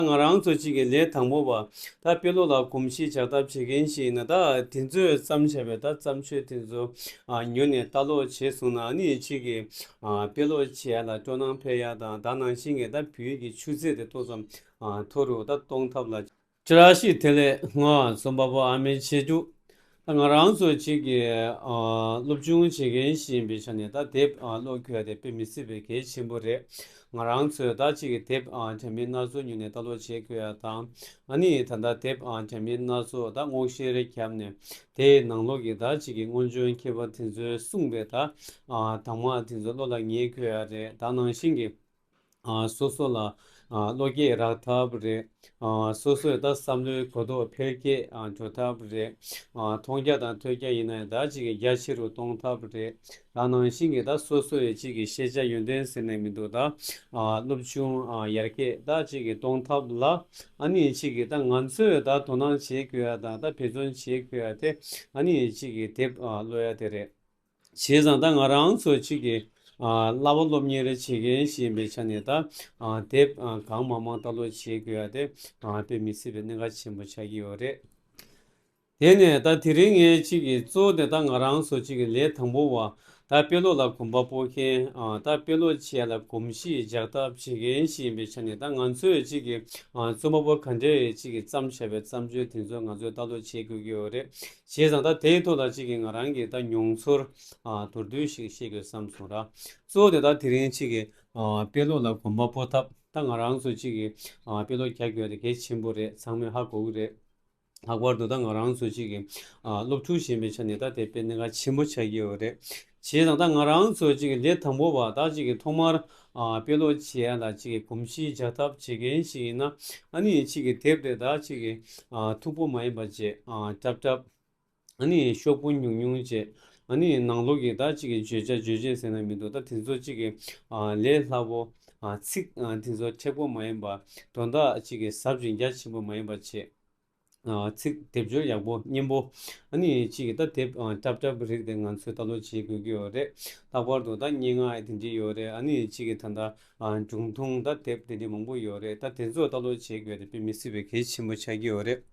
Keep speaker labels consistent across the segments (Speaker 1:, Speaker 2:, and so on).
Speaker 1: ང་རང་ཚོ་གཅིག་གི་ལས་དང་པོ་བ་ད་དཔེ་ལོ་ལ་གོམས་གཤིས་ཆགས་ཐབས་བྱེད་མཁན་ཞིག་ཡིན་ན་ད་དེ་ཚོས་བརྩམས་བྱ་བའི་ད་བརྩམས་ཆོས་དེ་ཚོ་ཉོ་ནས་ལྟ་ཀློག་བྱས་སོང་ན་ནི་གཅིག་གི་དཔེ་ཀློག་བྱེད་ཡ་ལ་སྤྲོ་སྣང་འཕེལ་ཡ་དང་ད་ནང་བཞིན་གྱི་ད་བོད་ཡིག་གི་ཆུ་ཚད་དེ་ཏོག་ཙམ་མཐོ་རུ་ད་གཏོང་ཐབས་ལ། ཅི་ར་ཞིག་དེ་ལས་སྔོན་རྩོམ་པ་པོ་ཨ་མའི་ཆེ་མཇུག་ད་ང་རང་ཚོ་གཅིག་གིས་སློབ་སྦྱོང་བྱེད་མཁན་ཞིག་ཡིན་པའི་ཆ་ནས་ད་དེབ་ཀློག་རྒྱུ་དེ་དཔེ་མི་སྲིད་པའི་གལ་ཆེན་པོ་རེད། ང་རང་ཚོས་ད་གཅིག་གིས་དེབ་དྲ་མིག་སྣ་ཚོགས་ཉོས་ནས་ལྟ་ཀློག་བྱེད་དགོས་ཡ་དང་ང་ནི་ད་ལྟ་དེབ་དྲ་མིག་སྣ་ཚོགས་ད་སྔོག་བཤེར་བརྒྱབ་ནས་དེའི་ནང་ལོག་གི་ད་གཅིག་གི་སྔོན་བྱོན་མཁས་པ་དེ་ཚོའི་གསུངས་པའི་ད་དང་མ་དེ་ཚོ་བློ་ལ་ངེས་དགོས་ཡ་རེད་ད་ནང་བཞིན་གྱི། སོ་སོ་ལ་བློ་སྐྱེད་རག་ཐབས་རེད། སོ་སོས་ད་བསམ་བློའི་གོ་རྟོགས་འཕེལ་རྒྱས་འགྲོ་ཐབས་རེད། མཐོང་རྒྱ་དང་ཐོས་རྒྱ་ཡིན་ན་ད་ཅིག་གི་རྒྱ་ཆེ་རུ་གཏོང་ཐབས་རེད། ད་ནང་བཞིན་གྱི་ད་སོ་སོ་ཡི་ཅིག་གི་ཤེས་བྱ་ཡོན་ཏན་ཟེར་ནས་མི་འདུག་ད་སློབ་ཆུང་ཡར་རྒྱས་ད་ཅིག་གི་གཏོང་ཐབས་ལ་ཨ་ནི་ཅིག་གི་ད་ང་ཚོས་ད་དོ་སྣང་བྱེད་དགོས་ཡ་དང་ད་འབད་བརྩོན་བྱེད་དགོས་ཡ་དེ་ཨ་ནི་ཅིག་གི་དེབ་ཀློག་ཡ་དེ་རེད། བྱས་ཙང་ད་ང་རང་ཚོ་གཅིག་གིས་གླ་བ་སློབ་གཉེར་བྱེད་མཁན་ཞིག་ཡིན་པའི་ཆ་ནས་ད་དེབ་གང་མང་མང་ལྟ་ཀློག་བྱེད་དགོས་ཡ་དེ་དཔེ་མི་སྲིད་པའི་གནད་འགག་ཆེན་པོ་ཆགས་ཀྱི་ཡོད་རེད། དེ་ནས་ད་དེ་རིང་ངས་གཅིག་གིས་གཙོ་བོ་དེ་ད་ང་རང་ཚོ་གཅིག་གིས་ལས་དང་པོ་བ་ད་དཔེ་ཀློག་ལ་གོམ་པ་སྤོ་མཁན་ད་དཔེ་ཀློག་བྱས་ལ་གོམས་གཤིས་འཇགས་ཐབས་བྱེད་མཁན་ཞིག་ཡིན་པའི་ཆ་ནས་ད་ང་ཚོས་གཅིག་གིས་རྩོམ་པ་པོ་ག་འདྲའི་གཅིག་གིས་བརྩམས་བྱས་པའི་བརྩམས་ཆོས་དེ་ཚོ་ང་ཚོས་ལྟ་ཀློག་བྱེད་དགོས་ཀྱི་ཡོད་རེད། བྱས་ཙང་ད་དེའི་ཐོག་ལ་གཅིག་གིས་ང་རང་གི་ད་མྱོང་ཚོར་དོར་དུས་ཤིག་བཤད་དགོས་བསམ་སོང་ར། གཙོ་བོ་དེ་ད་དེ་རིང་གཅིག་གིས་དཔེ་ཀློག་ལ་གོམ་པ་སྤོ་ཐབས་ད་ང་རང་ཚོ་གཅིག་གིས་དཔེ་ཀློག་རྒྱག་དགོས་རེད་གལ་ཆེན་པོ་རེད་ཚང་མས་ཧ་གོ་གི་རེད། ལྷག་པར་དུ་ད་ང་རང་ཚོ་གཅིག་གིས་སློབ་ཕྲུག་གཞན་པའི་ཆ་ནས་ད་དེ་དཔེ་གནད་འགག་ཆེན་པོ་ཆགས་ཀྱི་ཡོད་རེད། བྱས་དང་ད་ང་རང་ཚོ་ཅིག་འདས་དང་པོ་བ་དག་ཅིག་ཐོག་མར་དཔེ་ཀློག་བྱེད་ཡ་ད་ཅིག་གོམས་གཤིས་རྒྱག་ཐབས་བྱེད་མཁན་ཞིག་ཡིན་ན་ཨ་ནི་ཅིག་དེབ་དེ་དག་ཅིག་མཐུག་པོ་མ་ཡིན་པ་བཅས་བཀྲབ་བཀྲབ་ཨ་ནི་ཤོག་བུ་ཉུང་ཉུང་བཅས་ཨ་ནི་ནང་ལོག་གི་ད་ཅིག་བརྗོད་བྱ་བརྗོད་བྱེད་ཟེར་ན་མི་འདུག་ད་དེ་ཚོ་ཅིག་ལས་སླ་པོ་ཚིག་དེ་ཚོ་མཁྲེགས་པོ་མ་ཡིན་པ་དོན་དག་ཅིག་ཟབ་ཅིང་རྒྱ་ཆེན་པོ་མ་ཡིན་པ་བཅས། ཚིག་སྡེབ་སྦྱོར་ཡག་པོ་སྙན་པོ། ཨ་ནི་ཅི་ཡི་ད་དེབ་སྐྲབ་སྐྲབ་རིག་དེ་ང་ཚོས་ད་ལོ་བྱེད་དགོས་ཀྱི་ཡོད་རེད་ལྷག་པར་དུ་ད་སྙན་ངག་དེ་འདྲི་ཡོད་རེད་ཨ་ནི་ཅི་ཡི་ད་ད་སྒྲུང་ཐུང་ད་དེབ་དེ་འདྲི་མང་པོ་ཡོད་རེད་ད་དེ་ཚོ་ད་ལོ་བྱེད་དགོས་རེད་པེ་མི་སྲིད་པའི་གལ་ཆེན་པོ་ཆགས་ཀྱི་ཡོད་རེད་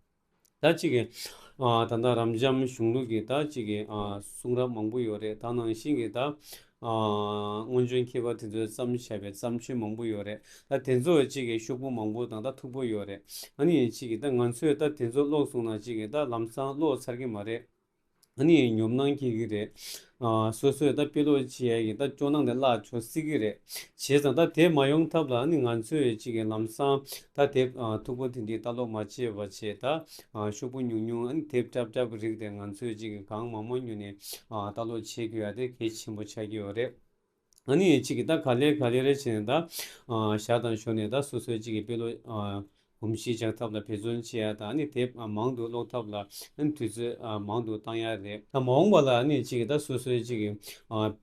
Speaker 1: ད་ཅི་ཡི་ད་ད་རབ་འབྱམས་གཞུང་ལུགས་ཀྱི་ད་ཅི་ཡི་གསུང་རབ་མང་པོ་ཡོད་རེད་ད་ནང་བཞིན་གྱི་ད། སྔོན་བྱོན་མཁས་པ་དེ་ཚོས་བརྩམས་བྱས་པའི་བརྩམས་ཆོས་མང་པོ་ཡོད་རེད་ད་དེ་ཚོ་གཅིག་གིས་ཤོག་བུ་མང་པོ་དང་ད་ཐུག་པོ་ཡོད་རེད་ཨ་ནི་གཅིག་གིས་ད་ང་ཚོས་ད་དེ་ཚོ་ཀློག་སོང་ན་གཅིག་གིས་ད་ལམ་སང་ཀློག་ཚར་གི་མ་རེད་ཨ་ནི་ཉོབ་སྣང་སྐྱེ་གི་རེད། སོ་སོས་ད་དཔེ་ཀློག་བྱས་ཀྱིས་ད་སྐྱོ་སྣང་དེ་བརླག་ཆོག་སྲིད་གི་རེད་བྱས་ཙང་ད་དེ་མ་ཡོང་ཐབས་ལ་ཨ་ནི་ང་ཚོས་གཅིག་གིས་ལམ་སང་ད་དེ་ཐུག་པོ་དེ་འདི་ད་ཀློག་མ་བྱས་པ་བྱས་ད་ཤོག་བུ་ཉུང་ཉུང་ཨ་ནི་དེབ་སྐྲབ་སྐྲབ་རིགས་དེ་ང་ཚོས་ཅིག་གིས་གང་མང་མང་ཉོས་ནས་ལྟ་ཀློག་བྱེད་དགོས་ཡ་དེ་གལ་ཆེན་པོ་ཆགས་ཀྱི་ཡོད་རེད། ཨ་ནི་ཅིག་གིས་ད་ག་ལེར་ག་ལེར་རེ་བྱས་ནས་ད་ཞག་དང་ཞོར་ནས་ད་སོ་སོའི་ཅིག་གི་དཔེ་ཀློག་གོམས་གཤིས་འཇགས་ཐབས་ལ་འབད་བརྩོན་བྱེད་ཡ་དང་ཨ་ནི་དེབ་མང་དུ་ཀློག་ཐབས་ལ་ཨ་ནི་དུས་ཚོད་མང་དུ་བཏང་ཡ་རེད། མ་འོངས་པ་ལ་ཨ་ནི་ཅིག་གིས་ད་སོ་སོའི་ཅིག་གི་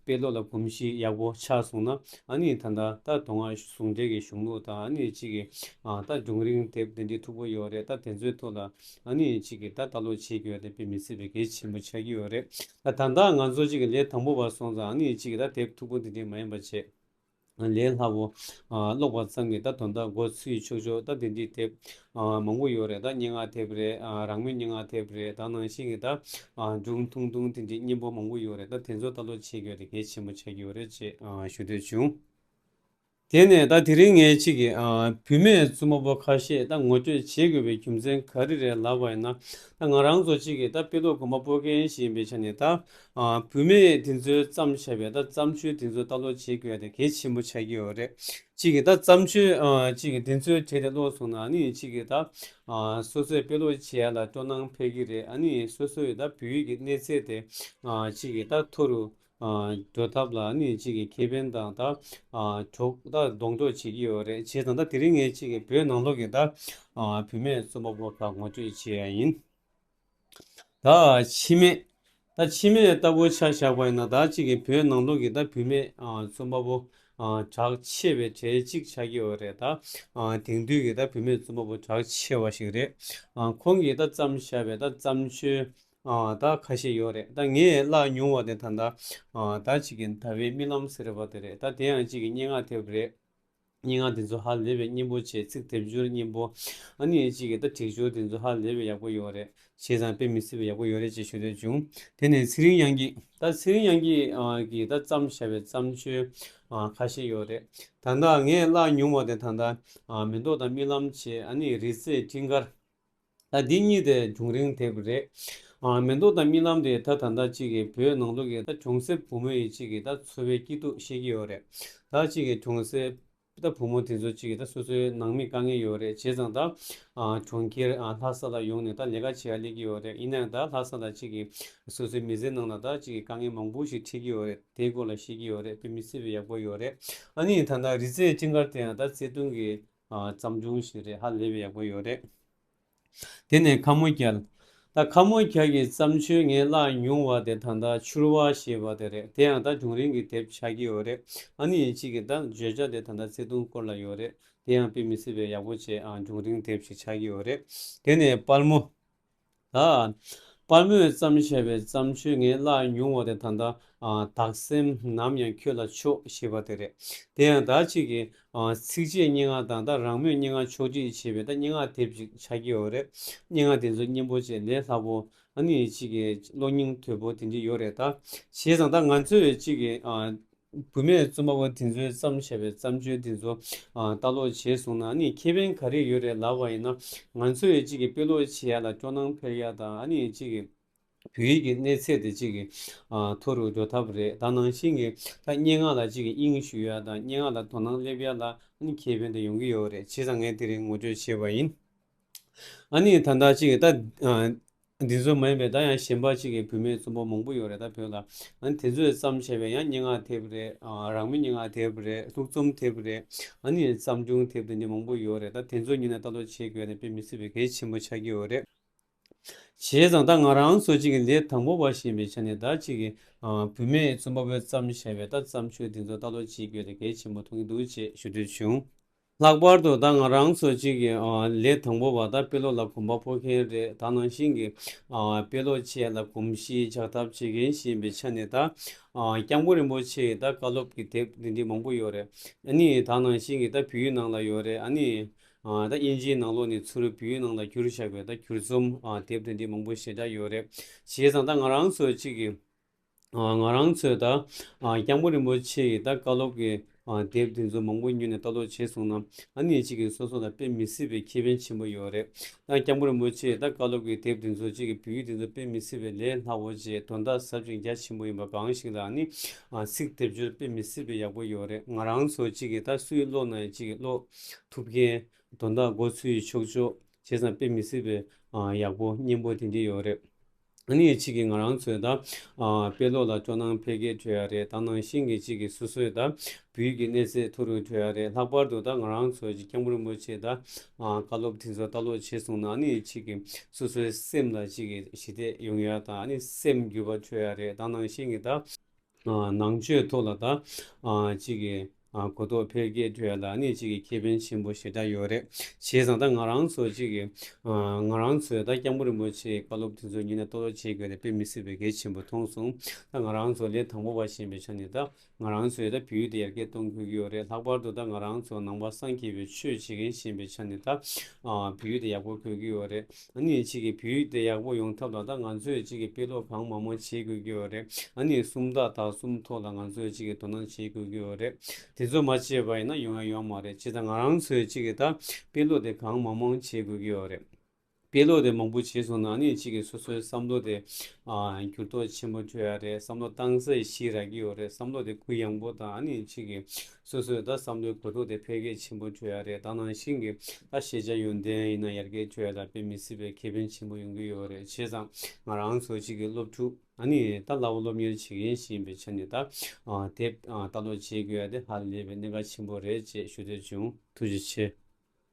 Speaker 1: དཔེ་ཀློག་ལ་གོམས་གཤིས་ཡག་པོ་ཆགས་སོང་ན་ཨ་ནི་ད་ལྟ་ད་དུང་ང་ཟུང་འབྲེལ་གྱི་གཞུང་ལུགས་དང་ཨ་ནི་གཅིག་གི་ད་སྒྲུང་རིང་དེབ་འདི་འབྲི་མཐུག་པོ་ཡོད་རེད་ད་དེ་ཚོའི་ཐུགས་ལ་ཨ་ནི་གཅིག་གི་ད་ལྟ་ལོ་བྱེད་རྒྱུ་ཡོད་ད་དཔེ་མི་ཚེ་བའི་གལ་ཆེན་པོ་ཆགས་ཀྱི་ཡོད་རེད་ད་ད་ལྟ་ང་ཚོ་གཅིག་གི་ལས་དང་པོ་བ་སོང་ཙང་ཨ་ནི་གཅིག་གི་ད་དེབ་མཐུག་པོ་འདི་འབྲི་མ་ཡིན་པ་བྱས། ལས་སླ་བོ། ཀློག་པ་ཙམ་གྱིས་ད་དོན་དག་འགོ་ཚུགས་ཀྱི་ཆོག་ཆོག་ད་འདི་འདྲའི་དེབ་མང་པོ་ཡོད་རེད་ད་སྙན་ངག་དེབ་རེད་རང་མོས་སྙན་ངག་དེབ་རེད་ད་ནང་བཞིན་གྱི་ད་སྒྲུང་ཐུང་ཐུང་དེ་འདྲའི་སྙན་པོ་མང་པོ་ཡོད་རེད་ད་དེ་ཚོ་ལྟ་ཀློག་བྱེད་དགོས་དེ་གལ་ཆེན་པོ་ཆགས་ཀྱི་ཡོད་རེད་ཅེས་ཞུ་འདོད་བྱུང། དེ་ནས་ད་དེ་རིང་ངས་ཅིག་གི་བུད་མེད་རྩུབ་མོ་པོ་ཁ་ཤས་ད་ངོ་སྤྲོད་བྱེད་དགོས་པའི་རྒྱུ་མཚན་ག་རེ་རེད་ལབ་པ་ཡིན་ན་ད་ང་རང་ཚོ་ཅིག་གི་ད་དཔེ་ཀློག་གོམ་པ་སྤོ་མཁན་ཞིག་ཡིན་པའི་ཆ་ནས་ད་བུད་མེད་དེ་ཚོའི་བརྩམས་ཆོས་བས་ད་བརྩམས་ཆོས་དེ་ཚོ་ལྟ་ཀློག་བྱེད་དགོས་དེ་གལ་ཆེན་པོ་ཆགས་ཀྱི་ཡོད་རེད། གཅིག་གིས་ད་བརྩམས་ཆོས་གཅིག་གིས་དེ་ཚོའི་གྲས་དེ་ཀློག་སོང་ན་ནི་གཅིག་གིས་ད་སོ་སོའི་དཔེ་ཀློག་བྱེད་ལ་སྤྲོ་སྣང་འཕེལ་གྱི་རེད་ཨ་ནི་སོ་སོའི་ད་བོད་ཡིག་གི་གནས་ཚད་དེ་གཅིག་གིས་ད་མཐོ་རུ་འགྲོ་ཐབས་ལ་ནི་གཅིག་གིས་ཁེ་ཕན་དང་ད་གྲོགས་ད་སྡོང་གྲོགས་བྱེད་ཀྱི་ཡོད་རེད་བྱས་ཙང་ད་དེ་རིང་ངས་གཅིག་གིས་བོད་ནང་ལོགས་ཀྱི་ད་བུད་མེད་རྩོམ་པ་པོ་ཁག་ངོ་སྤྲོད་བྱས་ཡ་ཡིན། བདག་འཆི་མེད། བདག་འཆི་མེད་ལྟ་བུ་ཆ་བཞག་པ་ཡིན་ན་བདག་གཅིག་གིས་བོད་ནང་ལུགས་ཀྱི་བདག་བུད་མེད་རྩོམ་པ་པོ་གྲགས་ཆེ་བའི་གྲས་གཅིག་ཆགས་ཀྱི་ཡོད་རེད་ད། དེང་དུས་ཀྱི་བདག་བུད་མེད་རྩོམ་པ་པོ་གྲགས་ཆེ་བ་ཞིག་རེད། ཁོང་གིས་ད་བརྩམས་བཞག་པའི་ད་བརྩམས་ཆོས་ད་ཁ་ཤས་ཡོད་རེད་ད་ངས་བཀླགས་མྱོང་བ་དེ་ད་ལྟ་བདག་གཅིག་གི་ཟླ་བའི་རྨི་ལམ་ཟེར་བ་དེ་རེད་ད་དེ་ཡང་གཅིག་གི་སྙན་ངག་དེ་རེད། སྙན་ངག་འདི་ཚོ་ཧ་ལས་པའི་སྙན་པོ་ཆེ་ཚིག་དེབ་སྦྱོར་སྙན་པོ་ཨ་ནི་གཅིག་གིས་ད་བྲིས་སྦྱོར་འདི་ཚོ་ཧ་ལས་པའི་ཡག་པོ་ཡོད་རེད་བྱས་ཙང་དཔེ་མི་སྲིད་པའི་ཡག་པོ་ཡོད་རེད་ཅེས་ཞུ་འདོད་བྱུང་དེ་ནས་ཚེ་རིང་དབྱངས་སྐྱིད་ད་ཚེ་རིང་དབྱངས་སྐྱིད་ཀྱིས་ད་བརྩམས་བཞག་པའི་བརྩམས་ཆོས་ཁ་ཤས་ཡོད་རེད་ད་ལྟ་ངས་བཀླགས་མྱོང་བ་དེ་ད་ལྟ་མེ་ཏོག་དང་རྨི་ལམ་བྱེད་ཨ་ནི་རི་རྩེའི་སྤྲིན་དཀར། ལ་འདི་གཉིས་དེ་བྱུང་རིང་དེབ་རེད། མེ་མདོ་དང་རྨི་ལམ་རེད་ད་ད་ཟླ་གཅིག་གི་བོད་ནང་དུ་གི་ད་གྱོང་སེར་བུ་མོ་ཡི་གཅིག་གི་ད་འཚོ་བའི་སྐྱིད་སྡུག་ཤེས་ཀྱི་ཡོད་རེད་ད་གཅིག་གི་གྱོང་སེར་ད་བུ་མོ་དེ་ཚོ་གཅིག་གི་ད་སོ་སོའི་ནང་མི་དཀའ་ངལ་ཡོད་རེད་བྱས་ཙང་ད་གྱོང་ཁྱེར་ལྷ་ས་ལ་ཡོང་ནས་ད་ལས་ཀ་བྱེད་ཡ་སླེབས་ཀྱི་ཡོད་རེད་ཡིན་ནའང་ད་ལྷ་ས་ལ་གཅིག་གི་སོ་སོའི་མི་ཚེ་ནང་ལ་ད་གཅིག་གི་དཀའ་ངལ་མང་པོ་ཞིག་འཕྲད་ཀྱི་ཡོད་རེད་དེའི་སྐོར་ལ་ཤེས་ཀྱི་ཡོད་རེད་བོད་མི་སེར་བས་ཡག་པོ་ཡོད་རེད་ཨ་ནི་ད་ད་རི་རྩེ་སྤྲིན་དཀར་དེ་ཡང་ད་བརྩེ་དུང་གི་བརྩམས་སྒྲུང་ཞིག་རེད་ཧ་ལས་པའི་ཡག་པོ་ཡོད་རེད། དེ་ནས་ཁ་མོ་གལ། ད་ཁ་མོ་གལ་གྱི་བརྩམས་ཆོས་ངས་བཀླགས་མྱོང་བ་དེ་ད་ལྟ་ཕྱུར་བ་ཞེས་པ་དེ་རེད་དེ་ཡང་ད་སྒྲུང་རིང་གི་དེབ་ཆགས་ཀྱི་ཡོད་རེད་ཨ་ནི་ཡིན་གཅིག་གི་ད་བརྗོད་བྱ་དེ་ད་ལྟ་བརྩེ་དུང་སྐོར་ལ་ཡོད་རེད་དེ་ཡང་དཔེ་མི་སྲིད་པའི་ཡག་པོ་བྱས་ཨ་སྒྲུང་རིང་དེབ་ཞིག་ཆགས་ཀྱི་ཡོད་རེད་དེ་ནས་དཔལ་མོ། པར་མོས་བརྩམས་བཞད་པའི་བརྩམས་ཆོས་ངས་བཀླགས་མྱོང་བ་དེ་ད་ལྟ་དག་སེམས་ནམ་ཡང་ཁྱོད་ལ་ཕྱོགས་ཞེས་པ་དེ་རེད། དེ་ཡང་དག་ཅིག་གིས་ཚིགས་བཅད་སྙན་ངག་དང་ད་རང་མོས་སྙན་ངག་ཕྱོགས་བསྒྲིགས་བྱས་པའི་ད་སྙན་ངག་དེབ་ཅིག་ཆགས་ཀྱི་ཡོད་རེད། སྙན་ངག་དེ་ཚོའི་སྙན་པོ་བཅས་ལས་སླ་པོ་ཨ་ནི་ཅིག་གི་གློག་སྙིང་དོད་པོ་དེ་འདྲ་ཡོད་རེད་ད། བྱས་ཙང་ད་ང་ཚོས་ཅིག་གི་བུད་མེད་རྩོམ་པ་པོ་དེ་ཚོའི་བརྩམས་བྱས་པའི་བརྩམས་ཆོས་དེ་ཚོ་ལྟ་ཀློག་བྱས་སོང་ན་ནི་ཁེ་ཕན་ག་རེ་ཡོད་རེད་ལབ་པ་ཡིན་ན་ང་ཚོས་ཅིག་གིས་དཔེ་ཀློག་བྱེད་ཡ་ལ་སྐྱོ་སྣང་འཕེར་ཡ་དང་ཅིག་གིས་བོད་ཡིག་གི་གནས་ཚད་དེ་ཅིག་གིས་མཐོ་རུ་འགྲོ་ཐབས་རེད་ད་ནང་བཞིན་གྱི་ཐ་སྙད་ངག་ལ་ཅིག་གིས་དབྱིངས་ཞུ་ཡ་དང་སྙན་ངག་ལ་དོ་སྣང་སླེབས་ཡ་ལ་ཁེ་ཕན་དེ་ཡོང་གི་ཡོད་རེད་བྱས་ཙང་ངས་དེ་རིང་ངོ་སྤྲོད་བྱས་པ་ཡིན། ད་ལྟ་ཅིག་གིས་ད་འདི་ཚོ་མ་ཡིན་པའི་ད་ཡང་གཞན་པ་གཅིག་གི་བུད་མེད་རྩོམ་པོ་མང་པོ་ཡོད་རེད་ད་བོད་ལ། ཨ་ནི་དེ་ཚོས་བརྩམས་བྱས་པའི་ཡང་སྙན་ངག་དེབ་རེད། རང་མོས་སྙན་ངག་དེབ་རེད་ལྷུག་རྩོམ་དེབ་རེད། ཨ་ནི་བརྩམས་སྒྲུང་དེབ་དེ་འདི་མང་པོ་ཡོད་རེད་ད་དེ་ཚོ་གཉིས་ལ་ལྟ་ཀློག་བྱེད་དགོས་ན་དཔེ་མི་སྲིད་པའི་གལ་ཆེན་པོ་ཆགས་ཀྱི་ཡོད་རེད། བྱས་ཙང་ད་ང་རང་ཚོ་གཅིག་གི་ལས་དང་པོ་བ་ཞིག་ཡིན་པའི་ཆ་ནས་ད་གཅིག་གི་བུད་མེད་རྩོམ་པ་པོས་བརྩམས་བྱས་པའི་ད་བརྩམས་ཆོས་འདི་ཚོ་ལྟ་ཀློག་བྱེད་དགོས་ན་གལ་ཆེན་པོ་མཐོང་གི་འདུག་ཅེས་ཞུ་འདོད་བྱུང། ལྷག་པར་དུ་ད་ང་རང་ཚོ་གཅིག་གི་ལས་དང་པོ་བ་ད་དཔེ་ཀློག་ལ་གོམ་པ་སྤོ་མཁན་རེད་ད་ནང་བཞིན་གྱི་དཔེ་ཀློག་ཆེད་ལ་གོམས་གཤིས་ཆགས་ཐབས་བྱེད་མཁན་ཞིག་ཡིན་པའི་ཆ་ནས་ད་སྐྱབས་མགོན་རིན་པོ་ཆེ་ཡི་ད་བཀའ་སློབ་ཀྱི་དེབ་འདི་འདི་མང་པོ་ཡོད་རེད་ཨ་ནི་ད་ནང་བཞིན་གྱི་ད་བོད་ཡུལ་ནང་ལ་ཡོད་རེད་ཨ་ནི་ད་དབྱིན་ཇིའི་ནང་ལོགས་ནས་ཚུར་བོད་ཡུལ་ནང་ལ་བསྐྱུར་བཞག་པའི་ད་བསྐྱུར་རྩོམ་དེབ་འདི་འདི་མང་པོ་ཞེ་དྲག་ཡོད་རེད་བྱས་ཙང་ད་ང་རང་ཚོ་གཅིག་གི། ང་རང་ཚོས་ད་སྐྱབས་མགོན་རིན་པོ་ཆེ་ཡི་ད་བཀའ་སློབ་ཀྱི་དེབ་དེ་ཚོ་མང་པོ་ཉོས་ནས་ལྟ་ཀློག་བྱས་སོང་ན་ཨ་ནེ་གཅིག་གིས་སོ་སོ་ལ་དཔེ་མི་སྲིད་པའི་ཁེ་ཕན་ཆེན་པོ་ཡོད་རེད། ད་སྐྱབས་མགོན་རིན་པོ་ཆེ་ཡི་ད་བཀའ་སློབ་ཀྱི་དེབ་དེ་ཚོ་གཅིག་གི་བོད་ཡིག་དེ་ཚོ་དཔེ་མི་སྲིད་པའི་ལས་སླ་བོ་ཅེས་དོན་དག་ཟབ་ཅིང་རྒྱ་ཆེན་པོ་ཡིན་པ་གང་ཞིག་ལ་ཨ་ནེ་ཚིག་དེབ་སྦྱོར་དཔེ་མི་སྲིད་པའི་ཡག་པོ་ཡོད་རེད་ང་རང་ཚོ་གཅིག་གིས་ད་སུ་ཡིས་ཀློག་ན་ཡང་གཅིག་གིས་ཀློག་ཐུབ་མཁན་དོན་དག་མགོ་ཚུད་ཡིས་ཆོག་ཆོག་བྱས་ཙང་དཔེ་མི་སྲིད་པའི་ཡག་པོ་སྙན་པོ་དེ་འདི་ཡོད་རེད། ཨ་ནི་གཅིག་གིས་ང་རང་ཚོའི་ད་དཔེ་ཀློག་ལ་སྤྲོ་སྣང་འཕེལ་གྱི་བྲོས་ཡ་རེད་ད་ནང་བཞིན་གྱི་གཅིག་གིས་སོ་སོའི་ད་བུའི་གི་གནས་ཚད་མཐོ་རུ་བྲོས་ཡ་རེད་ལྷག་པར་དུ་ད་ང་རང་ཚོ་གཅིག་སྐྱབས་མགོན་རིན་པོ་ཆེའི་ད་བཀའ་སློབ་དེ་ཚོ་ལྟ་ཀློག་བྱེད་སོང་ན་ཨ་ནི་གཅིག་གིས་སོ་སོའི་སེམས་ལ་གཅིག་གིས་ཞི་བདེ་ཡོང་ཡ་དང་ཨ་ནི་སེམས་འགྱུར་བ་བྲོས་ཡ་རེད་ད་ནང་བཞིན་གྱི་ད། ནང་ཆོས་ཐོག་ལ་དང་གཅིག་གི་གོ་རྟོགས་འཕེལ་རྒྱས་ཁྲོད་ལ་ནི་གཅིག་གི་ཁེ་ཕན་ཆེན་པོ་ཞེ་དྲག་ཡོད་རེད་བྱས་ཙང་ད་ང་རང་ཚོ་གཅིག་གི་ང་རང་ཚོས་ད་སྐྱབས་མགོན་རིན་པོ་ཆེའི་བཀའ་སློབ་དེ་ཚོ་ཉིད་ནས་གཏོར་བརླག་བྱེད་དགོས་རེད་དཔེ་མི་སྲིད་པའི་གལ་ཆེན་པོ་མཐོང་སོང་ད་ང་རང་ཚོ་ལས་དང་པོ་བ་བྱེད་པའི་ཆ་ནས་ད་ང་རང་ཚོས་ད་བོད་ཡུལ་དེ་ཡར་རྒྱས་གཏོང་དགོས་ཀྱི་ཡོད་རེད་ལྷག་པར་དུ་ད་ང་རང་ཚོ་ནང་པ་སངས་རྒྱས་པའི་ཆོས་བྱེད་མཁན་ཞེན་པའི་ཆ་ནས་ད་བོད་ཡུལ་དེ་ཡག་པོ་དགོས་ཀྱི་ཡོད་རེད། ཨ་ནི་ཕྱིས་ཀྱི་བོད་ཡིག་དེ་ཡག་པོ་ཡོང་ཐབས་ལ་ད་ང་ཚོས་ཕྱིས་ཀྱི་དཔེ་ཀློག་གང་མང་མང་བྱེད་དགོས་ཀྱི་ཡོད་རེད་ཨ་ནི་སུམ་རྟགས་དག་གསུམ་ཐོག་ལ་ང་ཚོས་ཕྱིས་ཀྱི་དོ་སྣང་བྱེད་དགོས་ཀྱི་ཡོད་རེད་དེ་ཚོ་མ་བྱས་པ་ཡིན་ན་ཡོང་ཡ་ཡོང་མ་རེད་སྤྱི་ད་ང་རང་ཚོས་ཕྱིས་ཀྱི་ད་དཔེ་ཀློག་དེ་གང་མང་མང་བྱེད་དགོས་ཀྱི་ཡོད་རེད། དཔེ་ཀློག་དེ་མང་པོ་བྱས་སོང་ན་ཨ་ནི་ཕྱིས་ཀྱི་སོ་སོའི་བསམ་བློ་དེ་འགྱུར་ལྡོག་ཆེན་པོ་འཕྲོད་ཡ་རེད་བསམ་བློ་གཏང་ས་ཞིག་རག་གི་ཡོད་རེད་བསམ་བློ་དེ་གུ་ཡངས་པོ་དང་ཨ་ནི་ཕྱིས་ཀྱི་སོ་སོའི་ད་བསམ་བློའི་གོ་རྟོགས་དེ་འཕེལ་རྒྱས་ཆེན་པོ་འགྲོ་ཡ་རེད་ད་ནང་བཞིན་གྱི་ད་ཤེས་བྱ་ཡོན་ཏན་ཡིན་ན་ཡར་རྒྱས་འགྲོ་ཡ་ད་དཔེ་མི་སྲིད་པའི་ཁེ་ཕན་ཆེན་པོ་ཡོང་གི་ཡོད་རེད་བྱས་ཙང་ང་རང་ཚོ་གཅིག་གི་སློབ་ཕྲུག་ནི་ད་སླ་བོ་སློབ་གཉེར་བྱེད་མཁན་ཞིག་ཡིན་པའི་ཆ་ནས་ད་དེབ་ལྟ་ཀློག་བྱེད་དགོས་ཡ་དེ་ཧ་ལས་པའི་གནད་འགག་ཆེན་པོ་རེད་ཅེས་ཞུ་འདོད་བྱུང་ཐུགས་རྗེ་ཆེ།